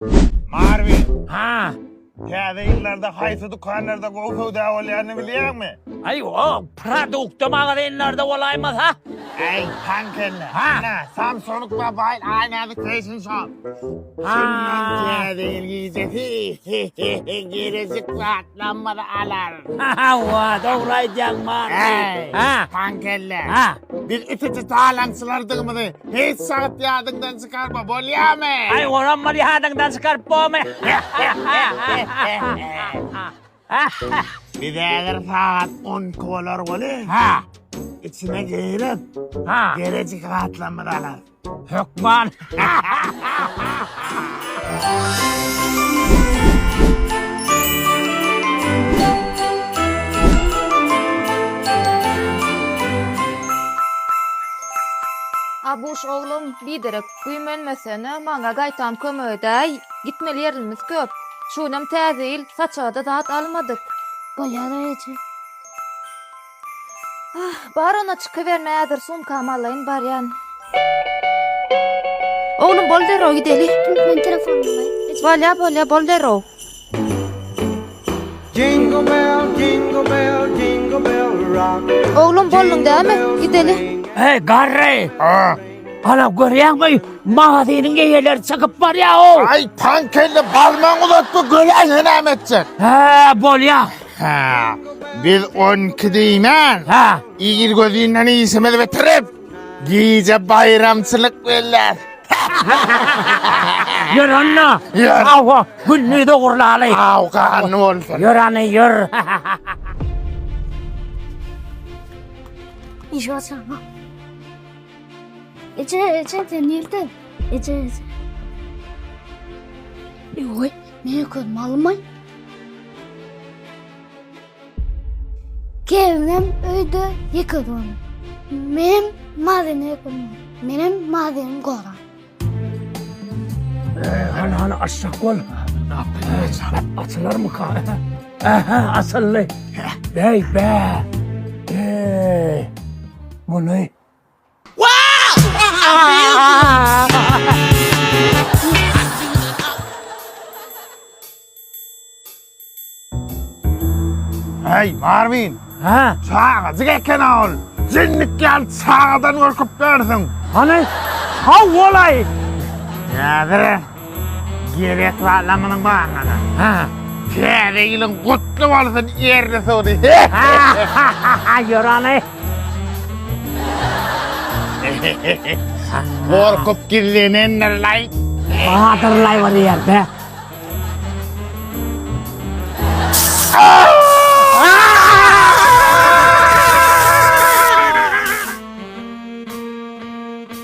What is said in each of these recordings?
Marvin, Ha, täze ýyllarda haýsy dükanlarda gowy söwda bolýanyny bilýäňmi? Aý, o produkt magazinlerde bolaýmasa? Äý, taň kelle. Ha. Ana, Samsung Mobile Aýnazy Fashion Shop. Şundan Ha. täze ýyl gijesi. Geljek zat. Lammada alar. Hawa, dogry aýdýaň, Mary. Äý, Ha. pankelle. Ha. Biz itici talaňçylardygymyzy hiç wagt ýadyňdan çykarma, bolýamy? Aý, olam bir ýadyňdan çykaryp bolmy? Biz häzir sagat 12 bolar weli. Ha. Içine girip, Ha. gerejik gatlamyzy alarys. Hökman. Abuş oglum, biderek güýmenmesene, maňa gaýtam kömek edäý. Gitmeli ýerlimiz köp. Şu günem Täze ýyl, saçaga-da zat almadyk. Bolýar eje. Ah, bar onda çykyber mäzir sumkamy alaýyn barýan. Oglum bol derrow gideli. Men telefonyny alaýyn. Bolýa bolýa bol derrow. Jingle bell, jingle bell, jingle bell rock. Oglum bolduň dämi? Gideli. Hey garry. Ah. Ana görýäňmi? Magazynyň eýeleri çykyp barýar o. Aý, pankelle barmaň uzatma, göräýen näme etjek. Hä, bolýa. Hä, biz on iki diýmän, hä, ir gözünden işimizi bitirip, gije baýramçylyk belläs. Ýör onda. Ýör. Hawa, günni dogurlaly. Aw, ganly bolsun. Ýör ane, ýör. Eje açama. Eje, eje, sen nerede? Eje, eje. Oy, Men öküz malmy? Gelinem öýde ýeke dur. Menem mazyny öküzim. Menem mazyny goran. Hany hany aşak bol. Açylar mı ka? Aha asıllı. Bey be. Ey. Bunu Hey Marvin. Ha? Çagajyk eken ol. Jinnik ýal çagadan gorkup görsün. Hany? Ha olay. Näzire. Gerek zada munuň barmana. Ha. Täze ýylyň gutly bolsun Erli Sudy. Ýör aly. Gorkup gizlenendirlaý. Badyrlaý bir ýerde.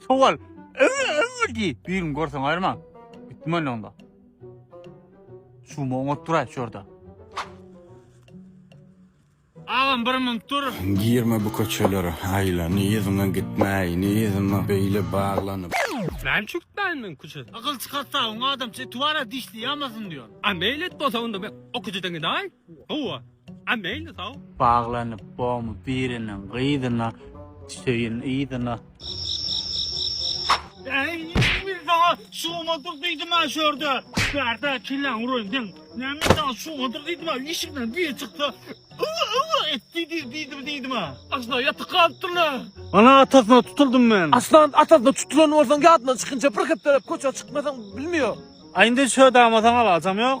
Sowal. Öwül öwül diý. Birini görseň aýyrma. Gitdim men onda. Şumy oňat duraý şurada. Agam bir minut dur. Girme bu köçelere aýla. Ni yzyňa gitmäý, ni yzyma beýle baglanyp. Näme üçin gitmäýin men köçä? Akyl çykartsaň, oňa adamça eti bar-a dişli ýamasyn diýýän. A meýil et bolsa onda men o köçeden gidäýin. Gowa. A meýli sag. Baglanyp bomy biriniň gyzyna söýün yzyna. Äý men saňa şuňadyr diýdimä şörde bärde kelläň uraýyn seň näme men saňa şuňadyr diýdimä işikden biri çyksa ywa ywa et diýdi diýdim diýdimä asla ýatyk galypdyrla. Ana atasyna tutuldym men. Aslan atasyna tutulan bolsaň ýadyna çykynça bir hepdeläp köçä çykmasaň bilmiýo. Aýndy şödäme saňa alajam ýok.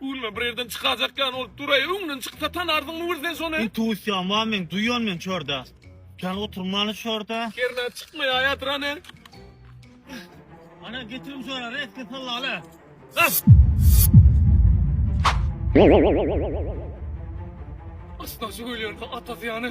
Gülme bir ýerden çykajak ýaly bolup duraý öňden çyksa tanardyňmy bir sen şony. Intuisiýam bar meň duýýan men çörde. Kän oturmaly çörde. Hernä çykmaýaýatyr hany. Hany getirim şöne reske sallaly. Gaç. Aç daşy ölýär atasy ýany.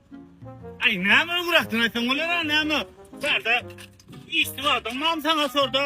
Aý näme öňräkden aýtsaň bolera näme bärde işli adam mam saňa sorda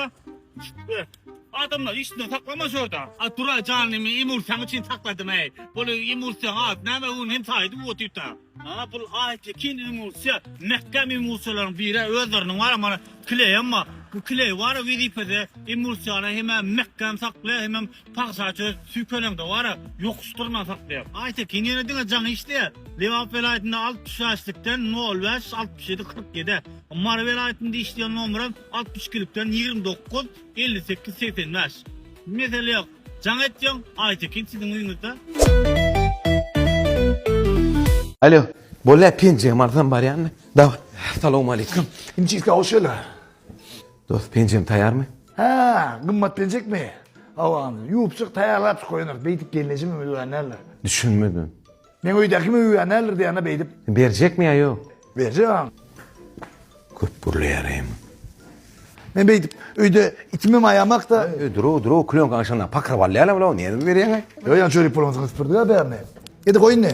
adamlar işinden saklama sorda. A tura janymy imursyýaň üçin sakladym äý. Bul imursyýaň ady näme bu hem saýdy bu otyrta. Aa bul aýtekin imursyýa mäkäm imursyýalaryň biri özleriniň bar mana kileýem bar bu kileý bar wezipede imursyýany hemem mäkäm saklaýar hemem Pagsa çöz, süýkeleňde wara, ýokuş dyrna saklaýar. Aýtekin ýene diňe jaňy işleýär. Lebap welaýatynda altmyş bäşlikden nol bäş, altmyş ýedi, kyrk ýedi. Mary welaýatynda işleýän nomeram altmyş ikilikden ýigrimi dokuz, elli sekiz, segsen bäş. Mesele ýok. Jaň etýäň, Aýtekin siziň öýüňizde. Alo, bolýa penjegem alsam barýanmy? Daway. Salowmaleýkim. Injirka hoş geldiň. Dos penjem taýarmy. Hä gymmat penjekmi gabagyndan ýuwup çyk taýýarlap çyk goýanar beýdip gelneje mümüz bilen näler. Düşünmedim. Meň öýdäki mümüz bilen näler diýana beýdip. Berjekmi ýa ýok. Berjek aň. Köp gürleýär eým. Men beýdip öýde itimem aýamakda. Öý duruu duruu klýonka aňşanda pakyryp alýarlar bulaw nädip berýäň aý. Ýok ýa çörek pulumyzy gysyp durdy ýa bärine. Ýedi goý indi.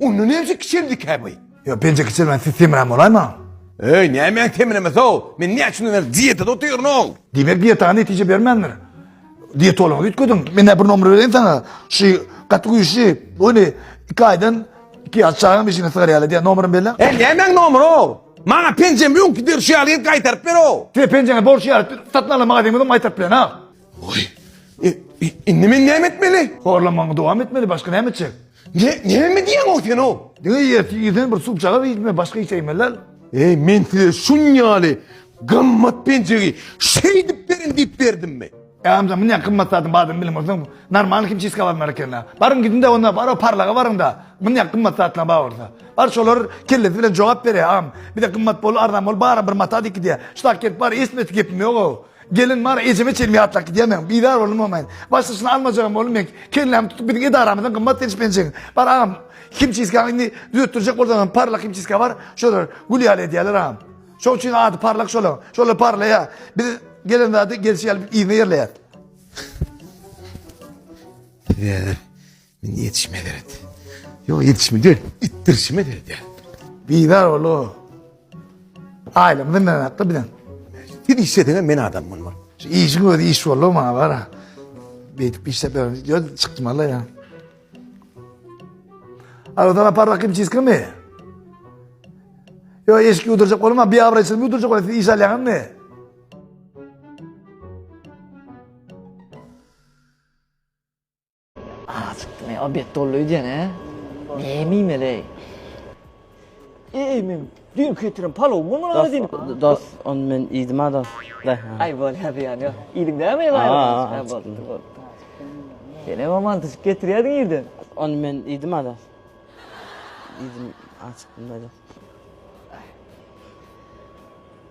Onda nebsi kiçeldikä bu? Ýok, penje kiçelmän siz semirän bolaýmaň. Eý, nämäň semiremesi-ow? Men näçe bäri dietada otyryn-ow? Diýmek dietaňa netije bermändir. Dietologa üýtgediň. Men-ä bir nomer bereýin saňa. Şu gaty güýçli. Ony iki aýdan iki ýaş çagam işiňe sygar ýaly edýär. Nomeryny belle. Eý, nämäň nomeri-ow? Maňa penjemi öňki derşi ýaly edip gaýtaryp ber-ow. Size penjeňizi borç ýaly satyn alan magazinimizden gaýtaryp bilen-ow. Oý, indi men näme etmeli? Horlanmagyňy dowam etmeli, başga näme etjek? Ne, näme diýýäň-ow sen o? Diňe ýerti ýerden bir suwjagaz iýme, başga hiç iýme lal. Eý, men size şunýaly gymmat penjegi şeýdip beriň diýip berdimmi? Gamja, muny gymmat zadyň badyny bilip bolsaň, normalny himçiska barmar eken-le. Baryň gidiň-de onda, bar o parlaga baryň-da. Muny gymmat zatlaň bar bolsa. Bar şolar kellesi bilen jogap bereý, agam. Bize gymmat bol, arzan bol, bara bir mata diýip gidýär. Şudak gelip bar, eşitmedik gepim ýog-ow. Gelin many ejeme çenli ýatlap gidýärmen. Bizar boldum momaýyn. Başdaşyny almajagam boldum men. Kellämi tutup biziň edaramyzdan gymmat seniş penjegiň. Bar agam himçiskany indi düzetdirjek bolsaňam parlak himçiska bar. Şolar gül ýaly edýärler agam. Şoň üçin ady parlak şolaň. Şolar parlaýar. Biz gelen zady gelşi ýaly yzyna ýerleýär. Size Men ýetişmez eret. Ýok, ýetişmez eret. Itdirişmez eret. Bizar bolu. Aýlam bilen hakda bilen. Siz işlediňiz men adam bolmam. Şu işiň özi iş boldy maňa bar. Beýtip işläp ýörün. Ýa çykdym alla ýa. Aradan apar rakim çizkimi? Yo eşki uyduracak olma bir avra içinde uyduracak olma siz iş alyan mı? Asypmy o bet dolly öýdýän hä? Näme iýmeleý? Eý men düýn getiren palow bolman aga diýip. Dos, ony men iýdim a dos. Aý bol hä zyýany ýok. Iýdiň dämi baýramçy? Boldy, boldy. Sen hem aman tutup getirýärdiň irden. Ony men iýdim a dos. Iýdim, aç çykdym-da dos.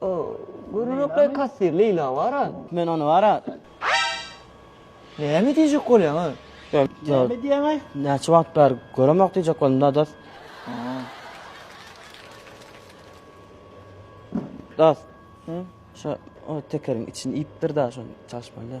O, görünekli kassir Leýla bar-a. Men ony bar-a. Näme diýjek bolýaň-a? Näme diýýäň-aý? Näçe wagt bäri göremok diýjek boldum da, dost. Dost, şo tekeriň içini iýipdir-dä, şony çalyşmaly-dä.